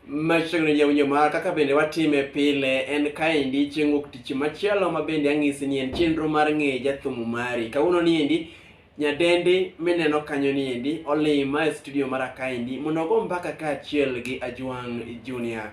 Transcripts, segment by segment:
Machiegni jawinjo mara kaka bende watime pile en kaendi chieng' wuok tich machielo ma bende ang'isi ni en chenro mar ng'eyo jathum mari. Kawuono ni endi nyadendi mineno kanyo ni endi olima e studio mara kaendi mondo ogo mbaka kaachiel gi Ajwang' Junior.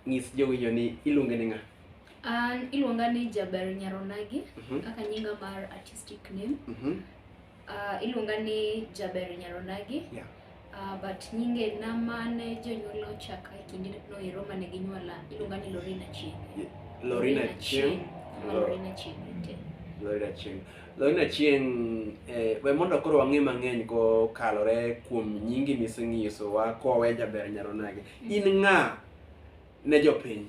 Ng'is jowinjo ni iluonge ni ng'a? An iluonga ni Jaber Nyaronagi Mhm. kaka nyinga mar artistic name. Mhm. Uh, iluonga ni Jaber Nyaronagi. Yeah. Uh, but nyinge na mane jonyuola ochaka e kinde no ero mane ginyuola iluonga ni Lorina Chieng. Yeah. Lorina Chieng. Lorina Chieng. Lorina Chieng. Lorina Chieng eh, we mondo koro wang'e mang'eny kokalore kuom nyingi misenyisowa kowe Jaber Nyaronagi. Mm. In ng'a ne jopiny?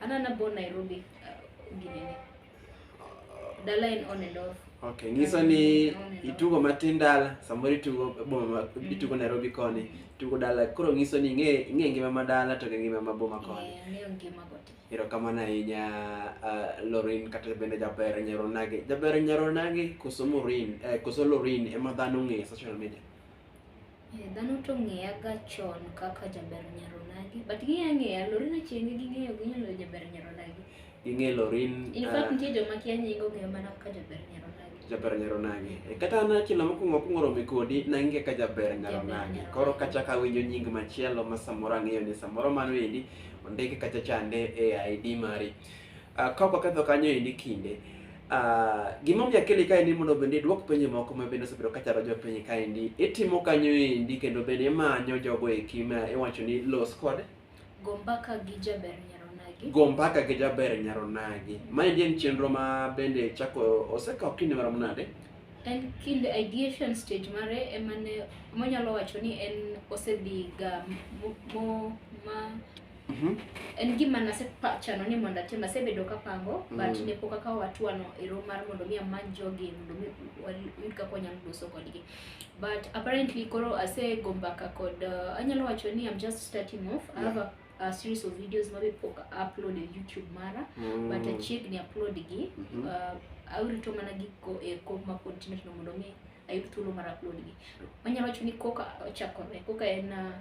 Ana na born Nairobi uh, ginene. Dala en on and off. Okay, nyiso ni itugo matin dala, samoro itugo boma ma mm. itugo Nairobi koni, itugo dala. Koro nyiso ni ing'e ing'e ngima ma dala to ngima ma boma koni. Yeah, ng'eyo ngima kote. Ero kamano ahinya uh, Lorin kata bende jaber nyaro nage. Jaber nyaro nage koso Morin, eh, koso Lorin ema dhano ng'e social media. Eh, dhano to ng'eya ga chon kaka jaber nyaronagi but ging'eya ng'eya lori na chienge ging'eyo ginyalo jaber nyaronagi ging'e lorin in ah, fact nitie joma kia nyingo ong'eyo mana kaka jaber nyaronagi jaber nyaronagi Eh, kata an achiel mokwongo akwongo romi kodi nang'e ka jaber nyaronagi Jaber koro kachak awinjo nying machielo ma samoro ang'eyo ni samoro mano endi ondike kacha chande e id mari Uh, ka ok waketho kanyo endi kinde uh, gimomiyo akele ka endi mondo bende idwok penjo moko ma bende osebedo ka chalo jopenjo ka endi itimo kanyo endi kendo bende imanyo jogo eki ma iwacho ni los kod Go mbaka gi Jaber Nyaronagi. go mbaka gi jaber nyaronagi ma endi en chenro ma bende chako osekawo kinde marom nade En kind ideation stage mare ema ne monyalo wacho ni en osedhi ga mo, mo ma Mhm. en gima nasepachano ni mondo atim asebedo kapango Mm. but ne pok akawo hatua no e romo mar mondo mi amany jogi mondo mi wayud kaka wanyalo loso kodgi but apparently koro asego mbaka kod uh, anyalo wacho ni I'm just starting off I have a, a series of videos mabe pok upload e YouTube mara Mm. but achiegni upload gi Mhm. uh, awrito mana giko e kom ma pod tindo tindo mondo mi ayud thuolo mar upload gi wanyalo wacho ni koka ochakore koka en uh,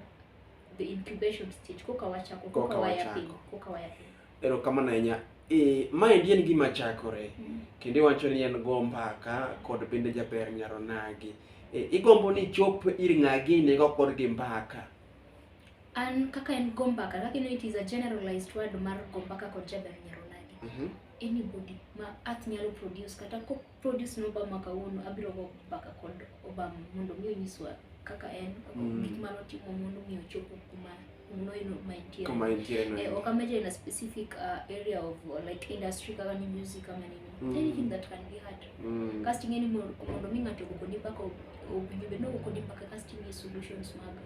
the incubation stage koka wachako koka, koka wayaping koka wayaping erokamano ahinya e, maendi en gima chakore mm. kendo iwacho ni en go mbaka kod bende jaber nyaro nagi e, igombo ni chop ir ng'agi nigo kod gi mbaka an kaka en go mbaka kaka ino it is a generalized word mar go mbaka kod jaber nyaro nagi mm -hmm. anybody ma earth nyalo produce kata produce no Obama kawuono abiro go mbaka kod Obama mondo mi onyiswa kaka en kaka Mm. gik mane otimo mondo mi ochopo kuma noino ma entie Kama entie no. Eh, ok ameje in a specific uh, area of uh, like industry kaka ni music kama nini Mm. anything that can be hard Mm. casting any mondo mondo mi ng'ato okoni mpaka obinyo bed ni okoni mpaka casting e solutions maga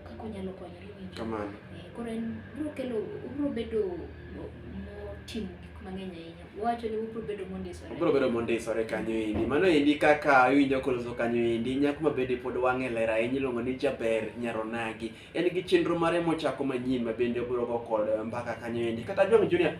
kaka onyalo konyore winjo. Kamano. Eh, koro en biro kelo obiro bedo motimo gik mang'eny ahinya. Wacho ni obiro bedo mondisore. Obiro bedo mondisore kanyo endi. Mano endi kaka iwinjo koloso kanyo endi. Nyako ma bende pod wang'e ler ahinya iluongo ni Jaber Nyaronagi. En gi chenro mare mochako manyien ma bende obiro go kod mbaka kanyo endi. Kata Jong Junior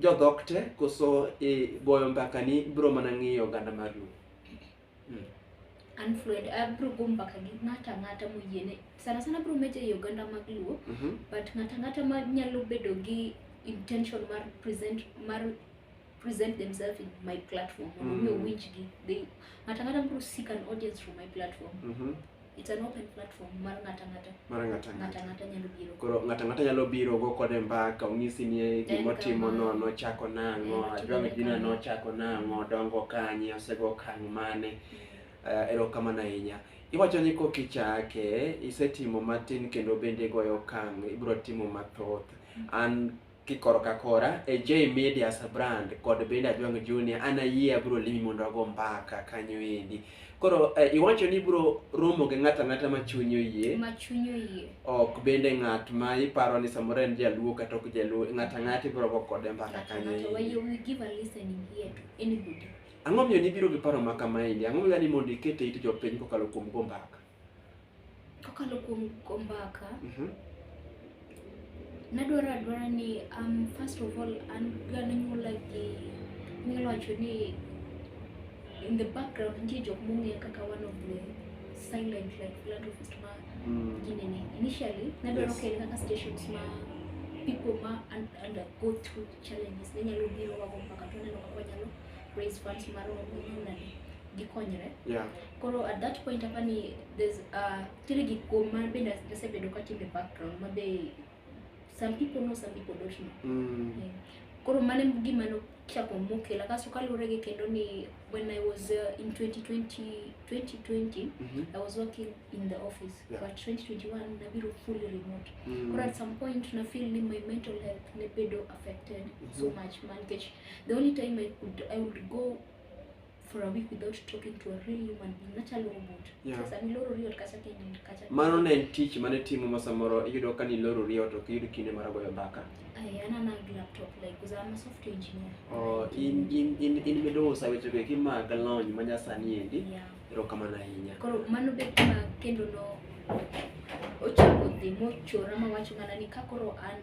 jodhok te koso e, goyo mbaka ni bro mana ng'iyo oganda mar luo mm. an fluid abro go mbaka gi ng'ata ng'ata moyiene sana sana bro meje e oganda mag luo mm -hmm. but ng'ata ng'ata ma nyalo bedo gi intention mar present mar present themselves in my platform mondo mm. mi owinjgi ng'ata ng'ata bro seek an audience from my platform mm -hmm. It's an open platform mar ng'ata ng'ata. Mar ng'ata ng'ata. Ng'ata ng'ata nyalo biro. Koro ng'ata ng'ata nyalo biro go kode mbaka onyisi ni e gima otimo no nochako nang'o, Eh, adwa ni gina nang'o. nochako nang'o, dongo kanye, osego kang' mane. Eh, erokamano ahinya. Iwacho ni kok ichake, isetimo matin kendo bende igoyo okang' ibiro timo mathoth. An kikoro ka kora e J Media Brand kod bende Ajwang Junior an ayie abro limi mondo ago mbaka kanyo endi. Koro eh, iwacho ni bro romo gi ng'ata ng'ata ma chunyi oyie. Ma chunyi oyie. Ok bende ng'at ma iparo ni samoro en jaluo kata ok jaluo ng'ata ng'ata ibro go kode mbaka kanyo endi. Ng'ata you will give a listening here to anybody. Ang'o miyo nibiro gi paro ma kama endi? Ang'o miyo ni mondo ikete it jopiny kokalo kuom go mbaka? Kokalo kuom kombaka, Mhm. nadwaro adwara ni um, first of all an gananyuola gi nyalo wacho ni in the background nitie jok mong'eya kaka one of the silent like philanthropist ma Mm. ginene initially nadwaro Yes. kele kaka stations ma people ma un- undergo through challenges ne nyalo biro wago mpaka to neno kaka wanyalo raise funds mar nade gikonyre Yeah. Koro at that point apa ni there's uh, tiri gik kuom ma bende asebedo ka timbe background ma be some people know some people don't know. Mm. Yeah. Koro mane gima nochako mokela kaso kaluwore gi kendo ni when I was uh, in 2020 2020 Mhm. I was working in the office Yeah. but 2021 nabiro fully remote Mm. Koro at some point na feel ni my mental health ne bedo affected so Mhm. much man nikech the only time I could I would go for a week without talking to a real human being nachalo robot Yeah. sasa niloro riot kacha kendo kacha mano ne en tich mane timo ma samoro iyudo ka ni loro riyo to ok iyud kinde mar goyo mbaka I ana na laptop like because I'm a software engineer Oh, in in in in midusa weche go eki mag lony ma nyasani endi yeah erokamano ahinya koro mano be kuma kendo no ochako dhi mochora mawacho mana ni ka koro an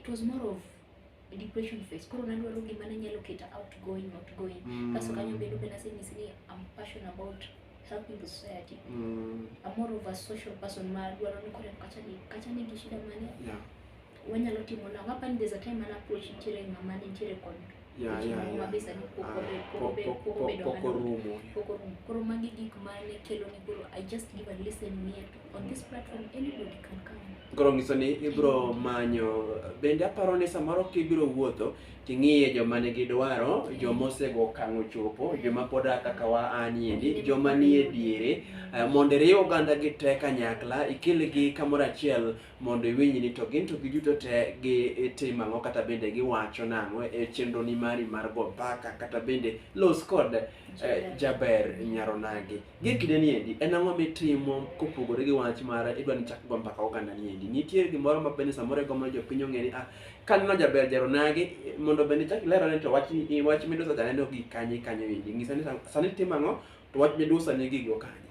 it was more of a depression phase koro nadwaro gima ne nyalo keta outgoing outgoing Mm. kaso kanyo bedo be nasenyisi ni am passion about helping the society Mm. I'm more of a social person ma dwaro ni kore kacha ni kacha ni gi shida mane Yeah. wanyalo timo na wapa ni there's a time an approach nitiere mama nitiere kod Yeah, Weche yeah, moko yeah. mabesa ni pok Ah, obe- pok pok- obe- pok- pok pok- obedo pok ng'ato. orumo. Pok orumo. Koro magi gik mane kelo ni koro I just give a listen here to, on this platform anybody can come. Koro ng'iso ni ibiro manyo bende aparo ni samoro kibiro wuotho ting'iye joma nigi dwaro, joma osego okang' ochopo, joma pod a kaka wa aniendi, joma nie diere, eh, mondo iriw oganda gi te kanyakla, ikelgi kamoro achiel mondo iwinj ni to gin to giduto te gitimo ang'o kata bende giwacho nang'o e chenroni mari mar go mbaka kata bende los kod eh, Jaber. jaber nyaronagi gie kinde ni endi en ang'o mitimo kopogore gi wach mar idwa ni chak go mbaka oganda ni endi nitie gimoro ma bende samoro igombo ni jopiny ong'e ni ah kaneno jaber jaronagi eh, mondo bende chak ilero ni to wach ni- wach midusa janeno gi kanye kanyo endi ng'isa ni sa- sani timo ang'o to wach midusa ni gigo kanye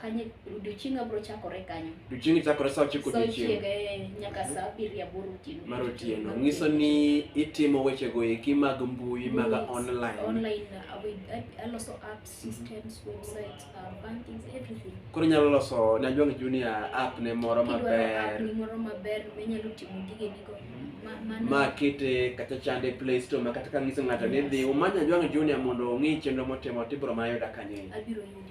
Kanye odiochienga bro chakore kanyo. Odiochienga chakore saa ochiko odiochienga. Saa ochiko eh, nyaka mhm. saa abiriyo aboro otieno. Mar otieno. Nyiso ni itimo weche go eki mag mbui mag online. Online uh, aloso apps, mhm. systems, websites, uh, banking, everything. Koro inyalo loso ne Ajwang Junior app ne moro maber. Kidwaro app ne moro maber minyalo timo gige nigo. Mhm. ma kete kata chande play store ma kata ka ngiso ng'ato ni dhi umanya Ajwang Junior mondo ong'i chenro motimo tibro mayuda kanye. Abiro yudi.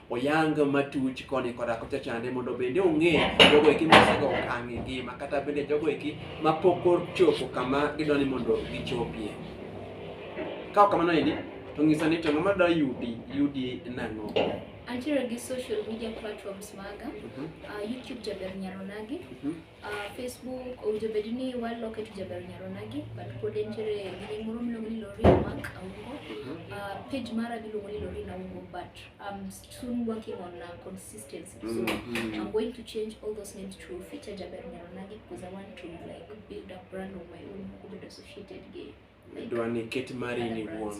oyang matuch koni koda kocha chande mondo bende ong'e jogo eki mosego okang' e ngima kata bende jogo eki mapok ochopo kama gidwa ni mondo gichopie. Ka ok kamano endi to ng'iso ni to ng'ama dwa yudi yudi nang'o? Antiere gi social media platforms maga, uh mhm. -huh. uh, YouTube Jaber Nyaronagi, uh mhm. -huh. Uh, Facebook owinjo bed ni waloke to jaber nyaronagi but pod entiere gini moro miluongo ni Lori Mark Aungo. Uh, page mara miluongo ni Lori Aungo but I'm soon working on uh, consistency. So mm-hmm. I'm going to change all those names to feature jaber nyaronagi because I want to like build a brand of my own who will be associated gay. dwa ni ket mari ni wuon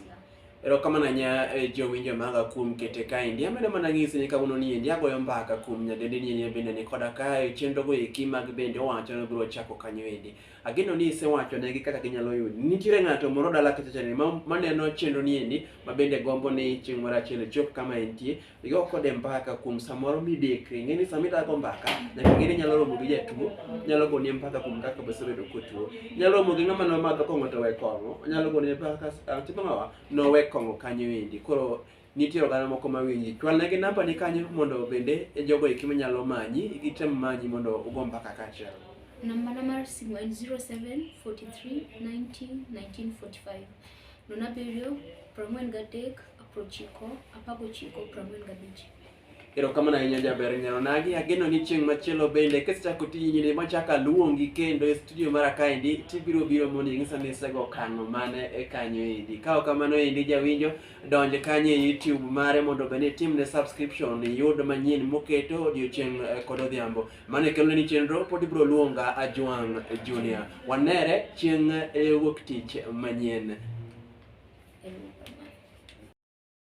erokamano anya eh, jowinjo maga kuom kete kaendi amedo mana ng'isi ni kawuono ni endi agoyo mbaka kuom nyadendi ni endi bende ni koda kae chenrogo eki mag bende owacho ni biro chako kanyo endi ageno ni isewacho negi kaka ginyalo yudi nitiere ng'ato moro dala kachacha ni ma- maneno chenro ni endi ma bende gombo ni chieng' moro achiel ichop kama entie igo kode mbaka kuom samoro midekre ing'e ni sama idago mbaka nyaka ing'e ni inyalo romo gi jatuo nyalo goni mbaka kuom kaka bosebedo kotuo inyalo romo gi ng'ama nomadho kong'o to we kong'o onyalo goni mbaka ah, tipo ng'awa nowe kong'o kanyo endi koro nitie oganda moko mawinji chwalnegi namba ni kanyo mondo bende jogo eki manyalo manyi gitem manyi mondo ugo mbaka kaachiel Nambana mar simu en 0743901945. Nono abiriyo, piero ang'wen gadek, apar ochiko, apar gochiko, piero ang'wen gabich. Erokamano ahinya jaber nyaro nagi. Ageno ni chieng' machielo bende kisechako tijni ni machaka luongi kendo e studio mara kaendi tibiro biro mondo ing'isa ni isego kang'o mane e kanyo endi. Ka ok kamano endi jawinjo donj kanyo e YouTube mare mondo bende itimne subscription iyud manyien moketo odiochieng' eh, kod odhiambo. Mano e kelone ni chenro pod ibiro luonga Ajwang' Junior. Wanere chieng' eh, wuok tich manyien.